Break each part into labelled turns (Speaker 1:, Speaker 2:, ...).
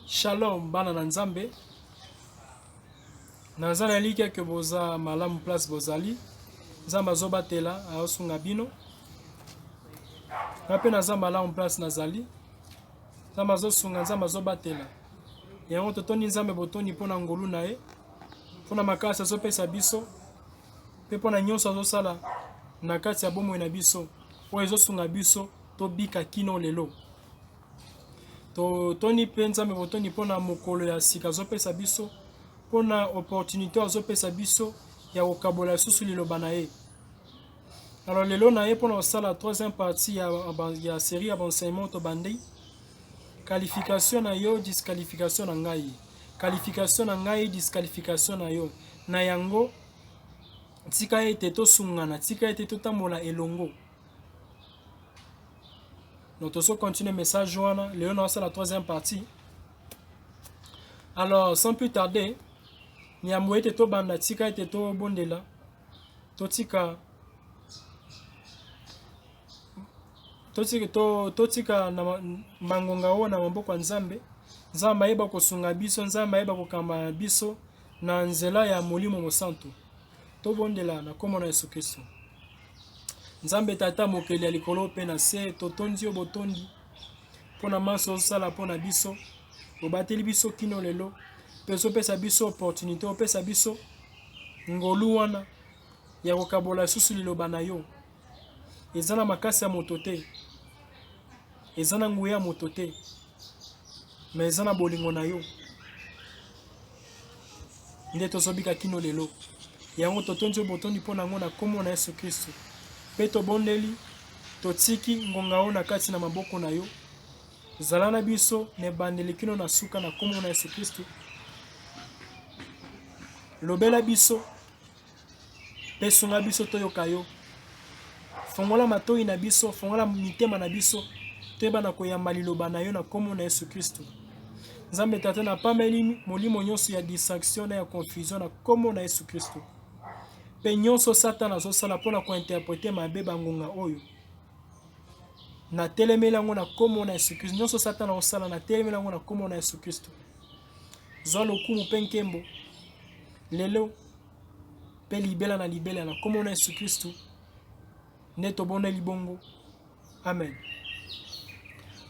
Speaker 1: Shalom bana na Nzambe, naza na elikya ke boza malamu place bozali. Nzambe azobatela, aosunga bino. Nga mpe naza malamu place nazali. Nzambe azosunga, Nzambe azobatela. Yango totondi Nzambe botondi mpo na ngolu na ye. mpo na makasi azopesa biso mpe mpo na nyonso azosala na kati ya bomoi na biso oyo ezosunga biso tobika kino lelo totoni mpe nzambe botondi mpo na mokolo ya sika azopesa biso mpo na opportunité oyo azopesa biso ya kokabola lisusu liloba na ye alors lelo na ye mpo na kosala troisième partie ya, ya série ya baenseignement tobandi qualification na yo disqualification na ngai Qualification na ngai, disqualification na yo. Na yango, tika ete tosungana, tika ete totambola elongo. Donc tozo continuer message wana, lelo na la troisième partie. Alors, sans plus tarder, yambo ete tobanda tika ete tobondela totika Totika to, totika na mangonga oyo na maboko ya Nzambe. Nzambe ayeba kosunga biso, Nzambe ayeba kokamba biso na nzela ya Molimo Mosantu. Tobondela na kombo na Yesu Kristo. Nzambe Tata mokeli ya likolo mpe na se, totondi yo botondi mpo na manso osala mpo na biso, obateli biso kino lelo mpe ozopesa biso opportunité, opesa biso ngolu wana ya kokabola lisusu liloba na yo. eza na makasi ya moto te, eza na nguya ya moto te, me eza na bolingo na yo nde tozobika kino lelo. Yango totondi yo botondi mpo na yango na nkombo na Yesu Kristo, mpe tobondeli, totiki ngonga oyo na kati na maboko na yo. Zala na biso na ebandeli kino na suka na nkombo na Yesu Kristo. Lobela biso mpe sunga biso toyoka yo. Fongola matoyi na biso, fongola mitema na biso, toyeba na koyamba liloba na yo na nkombo na Yesu Kristo. Nzambe Tata, napameli molimo nyonso ya distraction na ya confusion na nkombo na Yesu Kristo, mpe nyonso Satana azosala mpo na kointerprete mabe bangonga oyo natelemeli yango na nkombo na Yesu Kristo. Nyonso Satana osala natelemeli yango na nkombo na Yesu Kristo. Zwa lokumu mpe nkembo lelo mpe libela na libela na nkombo na Yesu Kristu nde tobondeli bongo, amen.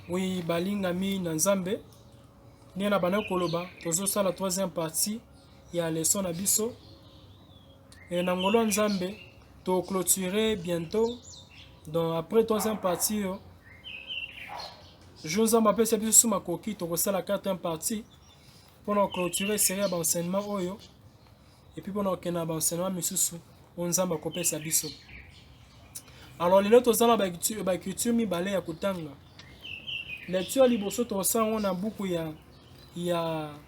Speaker 1: Oui, balingami na Nzambe, ndenge na bana koloba, tozosala troisième partie ya leson na biso. Et na ngolo nzambe to clôturer bientôt donc après troisième partie yo jour nzambe apesa biso su makoki tokosala quatrième partie mpo na clôturer série ya baenseignement oyo epuis mpo na kokende na baenseignement misusu oyo nzambe akopesa biso alors lelo toza na baecriture mibale ya kotanga lecture ya liboso tokosala yango na buku ya ya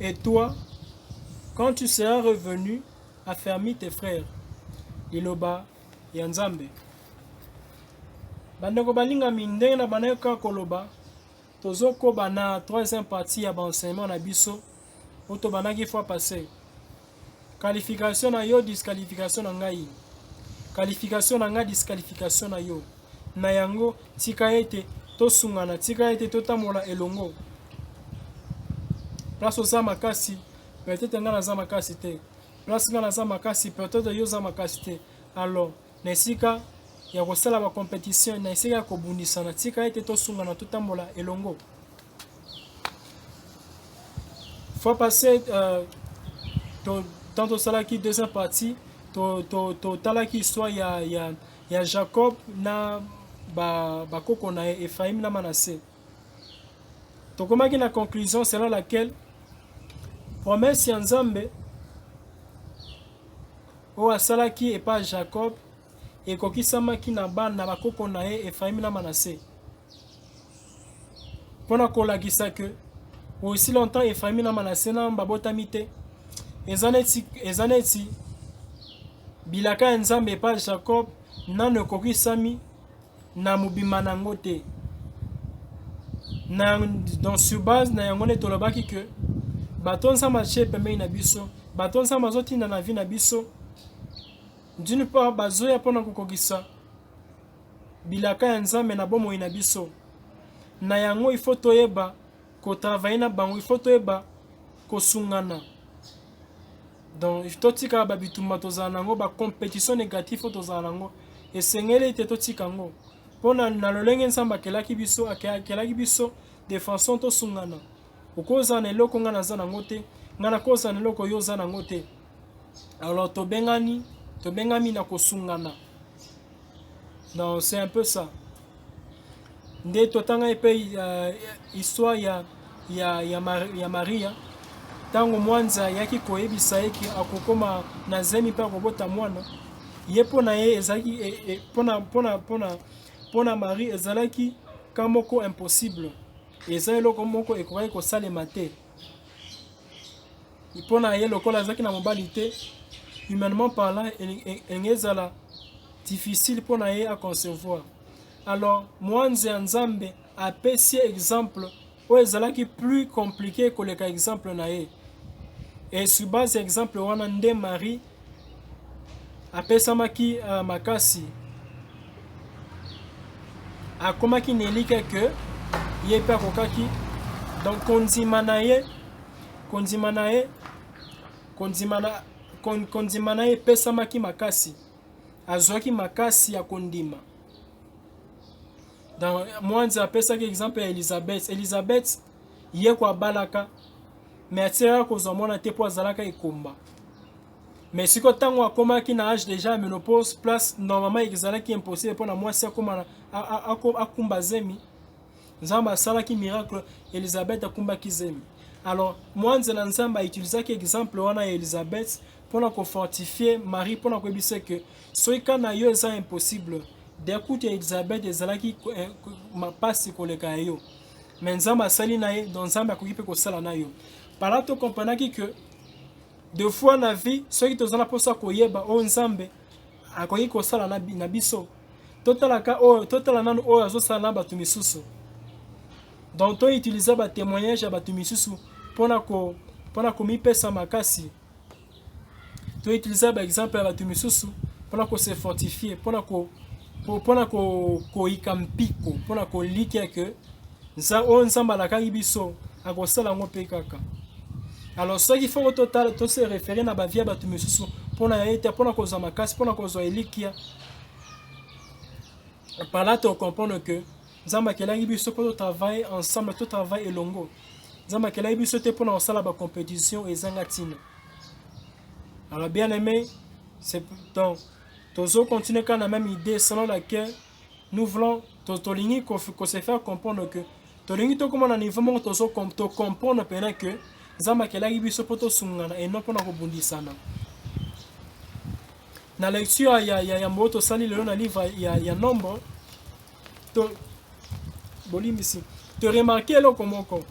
Speaker 1: Et toi, quand tu seras revenu, affermis tes frères. Liloba ya Nzambe. Bandeko balingami ndenge na bandeko kaka koloba tozokoba na troisième partie ya baenseignement na biso oto banaki fois passé qualification na yo disqualification na ngai qualification na ngai disqualification na yo na yango tika ete tosungana tika ete totambola elongo place oza makasi peut-être ngai naza makasi te place ngai naza makasi peut-être yo oza makasi te alors Na esika ya kosala ba competition, na esika ya kobundisana, tika ete tosungana, totambola elongo. Fois passé, euh, to, tant tosalaki deuxième partie, totalaki to, to histoire ya, ya, ya Jacob na bakoko ba na ye Ephraim na Manasse. Tokomaki na conclusion selon laquelle promesse ya Nzambe Oyo asalaki epai ya Jakob ekokisamaki na bana na bakoko na ye Efraime na Manase. Mpo na kolakisa ke aussi longtemps Efraime na Manase na babotami te, eza neti, eza neti bilaka ya Nzambe epai ya Jakob nano ekokisami na mobimba na yango te na, donc sur base na yango nde tolobaki ke bato nzambe atie pembeni na biso bato nzambe azotinda na vie na biso d'une part bazoya mpo na kokokisa bilaka ya nzambe na bomoi na biso na yango ifo toyeba kotravaye na bango ifo toyeba kosungana Donc il faut tika ba bitumba tozala nango ba competition négatif faut tozala nango esengeli te totika yango mpo na, na lolenge nzambe akelaki biso akelaki biso de façon tosungana okozala na eloko ngai naza nango te ngai nakozala na eloko yo oza nango te alors tobengani tobengami na kosungana donc c'est un peu ça nde totangaki mpe uh, histoire ya, ya, ya, Mar ya maria ntango mwanza ayaki koyebisa ye ke akokoma na zemi mpe akobota mwana ye mpo na ye ezalaki e, e, mpo na marie ezalaki ka moko impossible eza eloko moko ekokaki kosalema te mpo na ye lokola azalaki na mobali te humainement parlant elingi ezala difficile mpo na ye aconcevoir alors mwanze ya nzambe apesi ye exemple oyo ezalaki plus compliqué koleka exemple na ye et sur base ya exemple wana nde marie apesamaki uh, makasi akomaki na elikya ke ye mpe akokaki donc kondima na ye kondima na ye kondima na kondima na ye epesamaki makasi azwaki makasi ya kondima mwanzi apesaki exemple ya elizabeth elizabeth ye ko abalaka mais atikaka kozwa mwana te mpo azalaka ekomba mais siko ntango akomaki na age déjà ya menopause place normalement ezalaki impossible mpo na mwasi akoma akumba zemi nzambe asalaki miracle elisabeth akumbaki zemi alors mwanze na nzambe autilisaki exemple wana ya elisabeth mpo na kofortifie marie mpo na koyebisa ke soki ka na yo eza impossible dekutu ya elisabeth ezalaki eh, mapasi koleka ya yo mais nzambe asali na ye donc nzambe akoki mpe kosala na yo pala to comprenaki que de fois na vie soki toza na mposa koyeba oyo nzambe akoki kosala na biso totalaka oyo totala nanu oyo azosala na bato misusu donc toutiliza batémoignage ya bato misusu mpona komipesa makasi To utiliser ba exemple ya bato misusu pona ko se fortifier, pona ko pona ko koyika mpiko, pona kolikia que nza oyo Nzambe alakaki biso akosala yango mpe kaka. Alors soki foko totala to se referer na bavie ya bato misusu pona ya ete pona kozwa makasi, pona kozwa elikia, par là to comprendre que nzambe akelaki biso mpo totravaille ensemble totravaille elongo nzambe akelaki biso te mpona kosala bacompétition ezanga ntina alors bien aimé c'est donc tozo continuer kaka na même idée selon laquelle nous voulons tolingi kose faire comprendre que tolingi tokóma na niveau moko tozo tocomprendre mpena que nzambe akelaki biso mpo tosungana et non mpona kobundisana na lecture ya, ya, ya mboyo tosali lelo na livre ya, ya nombre to bolimbisi to remarke eloko moko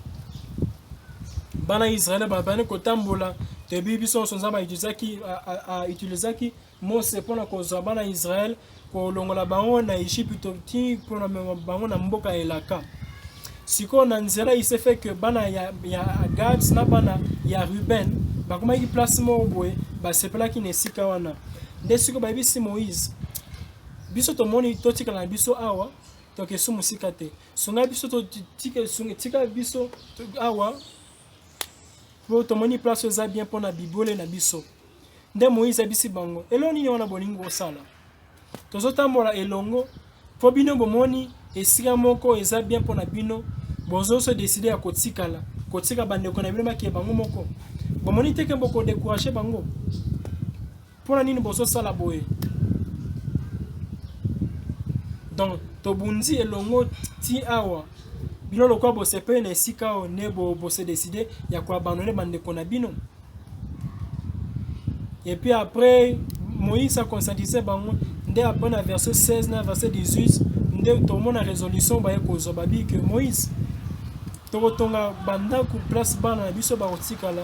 Speaker 1: bana israele babandi kotambola toyebi biso nyonso nzambe autilisaki autilisaki mose mpo na kozwa bana israele kolongola bango na egypito ti mpo na mema bango na mboka ya elaka sikoyo na nzela isefe ke bana ya, ya gad na bana ya ruben bakomaki place moko boye basepelaki na esika wana nde sikoyo bayebisi moïse Biso tomoni totikala na biso awa toke su mosika te sunga biso tika biso awa po tomoni place oyo eza bien mpo na bibwele na biso nde moïse abisi bango eloo nini wana bolingi kosala tozotambola elongo mpo bino bomoni esika moko eza bien mpo na bino bozoso deside ya kotikala kotika bandeko na bino bakee bango moko bomoni teke bokodekourage bango Pona nini bozo sala boye? Donc tobundi elongo ti awa bino lokola bosepeli na esika oyo nde bose decide ya koabandone bandeko na bino epuis après moïse aconscientise bango nde après na verset 16 na verset 18 nde tomona résolution baye kozwa babi ke moïse tokotonga bandako place bana na biso bakotikala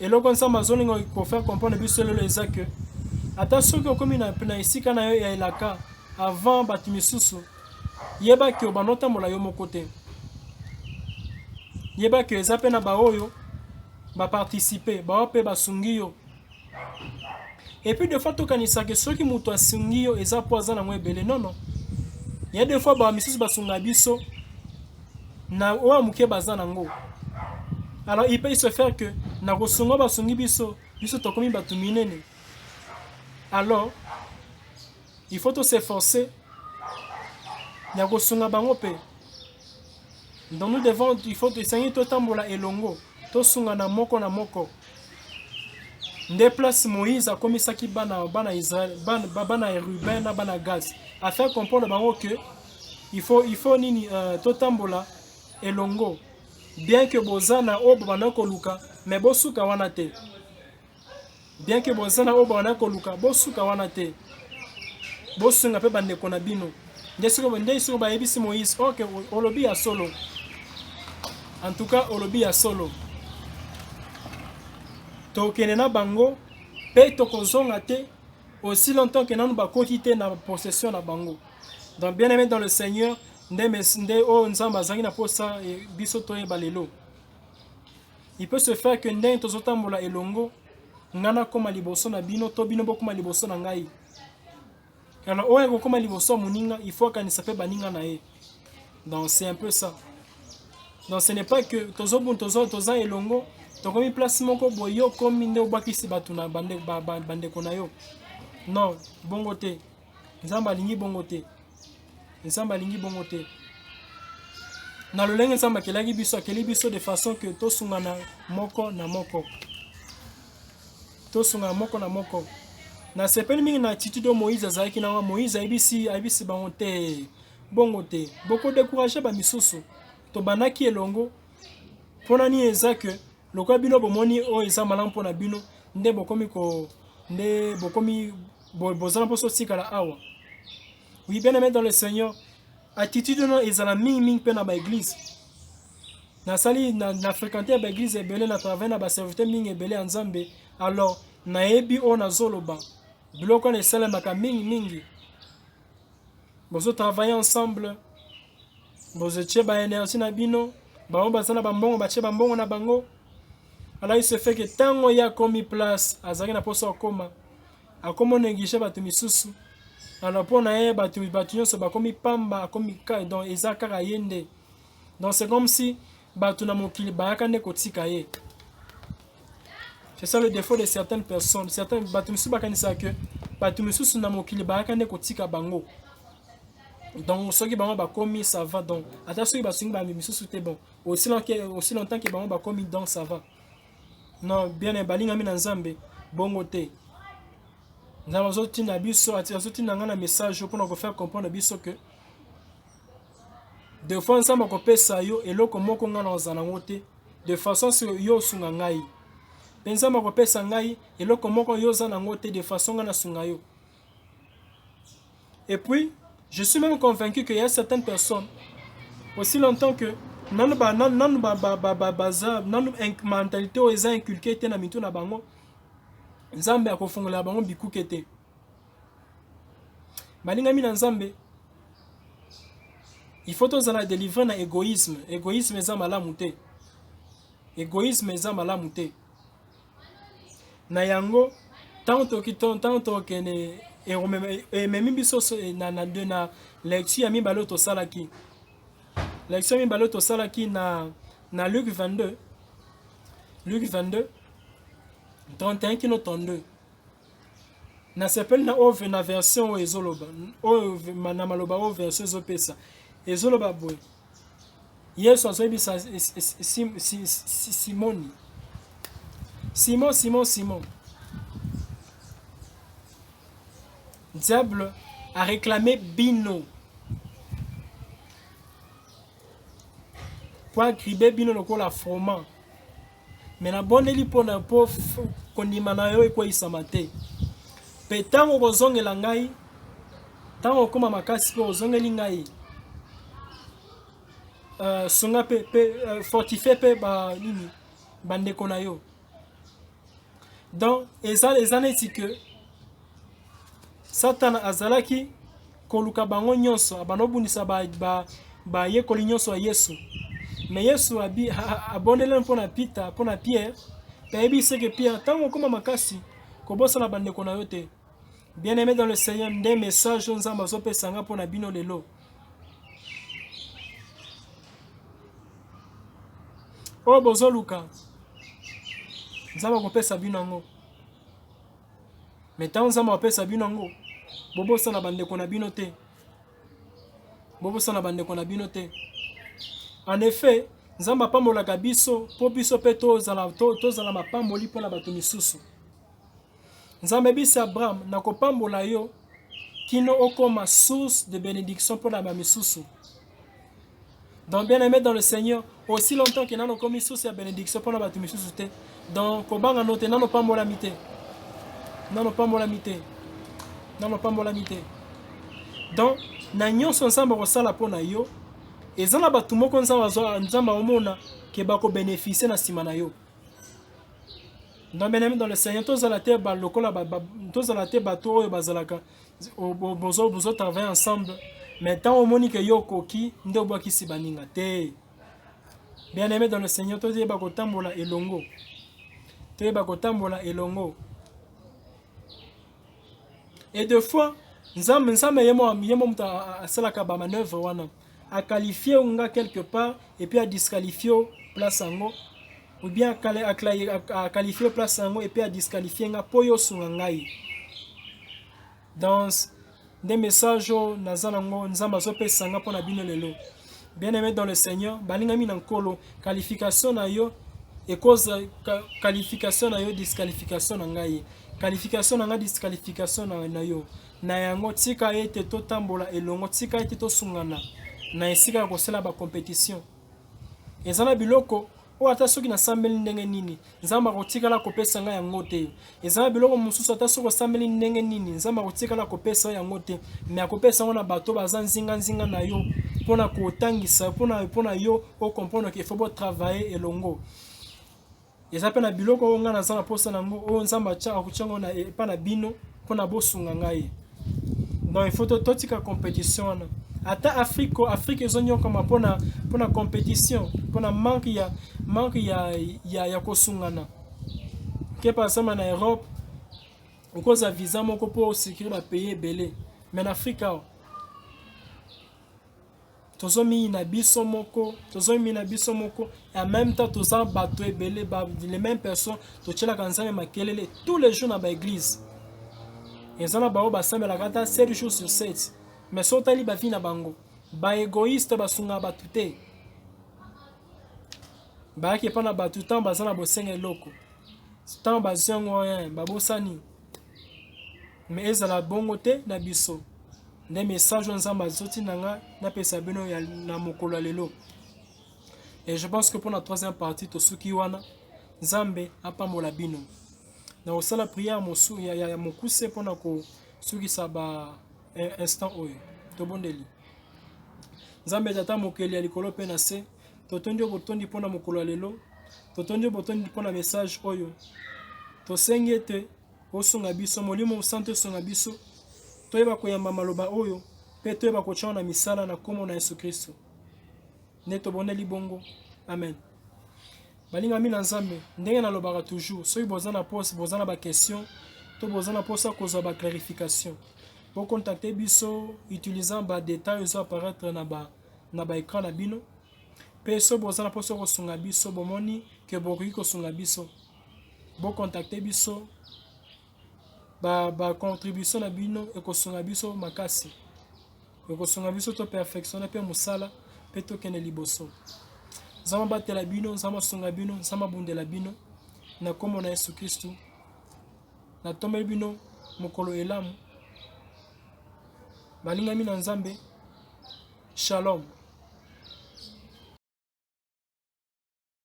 Speaker 1: eloko nsambo azolinga kofaire comprendre biso lelo eza ke ata soki okomi na, na esika na yo ya elaka avant bato misusu yeba ke obanda otambola yo moko te yeba ke eza mpe na baoyo baparticipe bawa mpe basungi yo Et puis des fois tokanisa que soki mutu asungi yo eza po aza nango ebele non non. Il y a des fois ba misusu basunga biso na oyo muke baza nango. Alors il peut se faire que na kosunga basungi biso biso tokomi batu minene. Alors Il faut to s'efforcer ya kosunga bango mpe donc nous devons il faut esengi totambola elongo tosungana moko na moko nde place moïse akomisaki bana bana israel bana, bana ya ruben na bana gad afin comprendre bango que il faut, il faut nini uh, totambola elongo bien que boza na oyo bobanda koluka mais bosuka wana te bien ke boza na oyo bana koluka bosuka wana te bosunga mpe bandeko na bino nde soki nde soki bayebisi moïse oke olobi ya solo en tout cas olobi ya solo tokende na bango mpe tokozonga te aussi longtemps que nanu bakoti te na possession na bango donc bien aimé dans le seigneur nde nde oyo nzambe azalaki na mposa biso toyeba lelo Il peut se faire que ndenge tozotambola elongo, ngai nakoma liboso na bino to bino bokoma liboso na ngai. Alors oyo ekokoma liboso ya moninga, il faut akanisa mpe baninga na ye. Donc c'est un peu ça. Donc ce n'est pas que tozobun tozo toza elongo, tokomi place moko boye yo okomi nde obwakisi bato na bandeko na yo. Non, bongo te. Nzambe alingi bongo te. Nzambe alingi bongo te. Na lolenge Nzambe akelaki biso, akeli biso de façon que tosungana moko na moko. Tosungana moko na moko. Nasepeli mingi na attitude oyo Moïse azalaki na yango. Moïse ayebisi ayebisi bango te. Bongo te. Boko décourager ba misusu. Tobandaki elongo. Pona nini eza que lokola bino bomoni oyo eza malamu pona bino nde bokomi ko nde bokomi bozala mposa otikala awa oui bien aimé dans le seigneur attitude wana ezala mingimingi mpe na baeglise nasali na, na fréquente ya baeglise ebele na travaille na baserviteur mingi ebele ya nzambe alors nayebi oyo nazoloba biloko wana esalemaka mingimingi bozotravaille ensemble bozotie baenergie na bino bango baza na bambongo batie bambongo na bango alaki se feke ntango ye akomi place azalaki na mposa akoma akomo neglige bato misusu alors mpo na ye bato bato nyonso bakomi pamba akomi kai donc eza kaka ye nde donc c'est comme si bato na mokili bayaka nde kotika ye c'est ça le défaut de certaines personnes certaines bato misusu bakanisaka que bato misusu na mokili bayaka nde kotika bango donc soki bango bakomi ça va donc ata soki basungi bambi misusu te bon aussi longtemps ke bango bakomi donc ça va Non, bien eh, balingami na Nzambe, bongo te. Nzambe azotinda biso, azotinda ngai na message mpona kofaire comprendre biso que de fois Nzambe akopesa yo eloko moko ngai nazala yango te, de façon se yo osunga ngai. Mpe Nzambe akopesa ngai eloko moko yo oza na yango te, de façon ngai nasunga yo. Et puis, je suis même convaincu qu'il y a certaines personnes, aussi longtemps que nanu ba nanu nanu ba ba ba ba baza nanu mentalité oyo eza inculqué te na mitu na bango nzambe akofungolela bango bikuke te balingami na nzambe il faut tozala délivré na égoïsme égoïsme eza malamu te égoïsme eza malamu te na yango ntango tokende ememi biso na, na, na lecture ya mibale oyo tosalaki lecture ya mibale oyo tosalaki na, na luke 22 luke 22 31 kino 32 nasepeli na oyo na version oyo ezoloba oyo na maloba oyo version ezopesa ezoloba boye Yesu azoyebisa Simoni, Simon, Simon, Simon, diable a réclamé bino po agribe bino lokola froment me nabondeli mpo na mpo kondima na yo ekweisama te mpe ntango okozongela ngai ntango okoma makasi mpe ozongeli ngai uh, sunga mpe mpe uh, fortifie mpe ba nini bandeko na yo donc eza eza neti ke satana azalaki koluka bango nyonso, abanda kobundisa bayekoli nyonso ya Yesu. Me Yesu abondeleli mpo na Pita, mpo na Pierre, mpe ayebi seke Pierre, ntango okoma makasi, kobosana bandeko na yo te. Bien-aime dans le Seigneur, nde message oyo Nzambe azopesa nga mpo na bino lelo. Oyo bozoluka, Nzambe akopesa bino yango. Mais ntango Nzambe apesa bino yango, bobosana bandeko na bino te. Bobosana bandeko na bino te. En effet, Nzambe apambolaka biso mpo biso mpe tozala, to, tozala mapamboli mpo na bato misusu. Nzambe ebisi Abraham, nakopambola yo kino okoma source de benediction mpo na bamisusu. donc bien aimé dans le seigneur aussi longtemps ke nano okomi source ya bénédiction mpo na bato misusu te donc kobanga no te nano opambolami te nano opambolami te nano opambolami te donc na nyonso nzambe akosala mpo na yo eza na bato moko nzambe azwa nzambe akomona ke bakobeneficie na nsima na yo donc bien aimé dans le seigneur tozala te balokola tozala te bato oyo bazalaka bozo bozo travailler ensemble mais ntango omoni ke yo okoki nde obwakisi baninga te bien aimé dans le seigneur toyeba kotambola elongo toyeba kotambola elongo et de fois nzambe nzambe ye mo moto asalaka bamanoeuvre wana a qualifie yo nga quelque part et puis a disqualifie yo place yango ou bien a qualifie place yango et puis a disqualifie nga po yo sunga ngai dans nde message oyo naza nango nzambe azopesa nga mpo na bino lelo bien aimé dans le seigneur balingami na nkolo qualification na yo ekoza qualification na yo disqualification na ngai qualification na ngai disqualification na, na yo Na yango, tika ete totambola elongo, tika ete tosungana na esika ya kosala ba competition. Eza na biloko oyo ata soki nasambeli ndenge nini nzambe akotikala kopesa ngai yango te eza na biloko mosusu ata soki osambeli ndenge nini nzambe akotikala kopesa yo yango te me akopesa yango na bato baza nzinganzinga na yo mpo na kotangisa mpo na yo okomprendre ke fo botravaille elongo Eza mpe na biloko oyo ngai naza na mposa na yango, oyo Nzambe atya akotya yango na epa na bino mpo na bosunga ngai. Donc il faut totika competition wana. Ata Afrique ko Afrique ezonyokama mpo na mpo na competition, mpo na manque ya manque ya ya, ya kosungana. Ke par exemple na Europe okozwa visa moko mpo osikiri ba pays ebele, mais na Afrique awa tozomiyina biso moko tozomiyina biso moko en même temps toza bato ebele ba, les mêmes personnes totyelaka nzambe makelele tous les jours na baeglise eza na bango basambelaka ata 7 jours sur 7 mais so otali bavi na bango baegoïste basungaka bato te bayaki epai na bato ntango baza na bosenga eloko ntango bazwi yango babosani Mais ezala bongo te na biso. Nde message oyo Nzambe azoti na nga napesa bino ya na mokolo ya lelo. Et je pense que pour la troisième partie tosuki wana Nzambe apambola bino. Na osala prière mosu ya, ya, ya mokuse pona ko sukisa ba eh, instant oyo. Tobondeli. Nzambe tata mokeli ya likolo pe na se, totondi yo botondi pona mokolo ya lelo. Totondi yo botondi pona message oyo. Tosengi ete Osunga biso, Molimo Mosantu esunga biso, toyeba koyamba maloba oyo, mpe toyeba kotya na misala na nkombo na Yesu Kristo. Nde toboneli bongo. Amen. Balingami na Nzambe, ndenge nalobaka toujours, soki boza na poste, boza na baquestion, to boza na posa kozwa baclarification, bocontacte biso utilisant badetail ezo apparaître na ba na baekran na bino mpe so boza na mposa kosunga biso bomoni ke bokoki kosunga biso bo contacter biso ba, ba contribution na bino ekosunga biso makasi ekosunga biso to perfectionne mpe mosala mpe tokende liboso nzambe abatela bino nzambe asunga bino nzambe abundela bino na nkombo na yesu kristu natombeli bino mokolo elamu balingami na nzambe shalom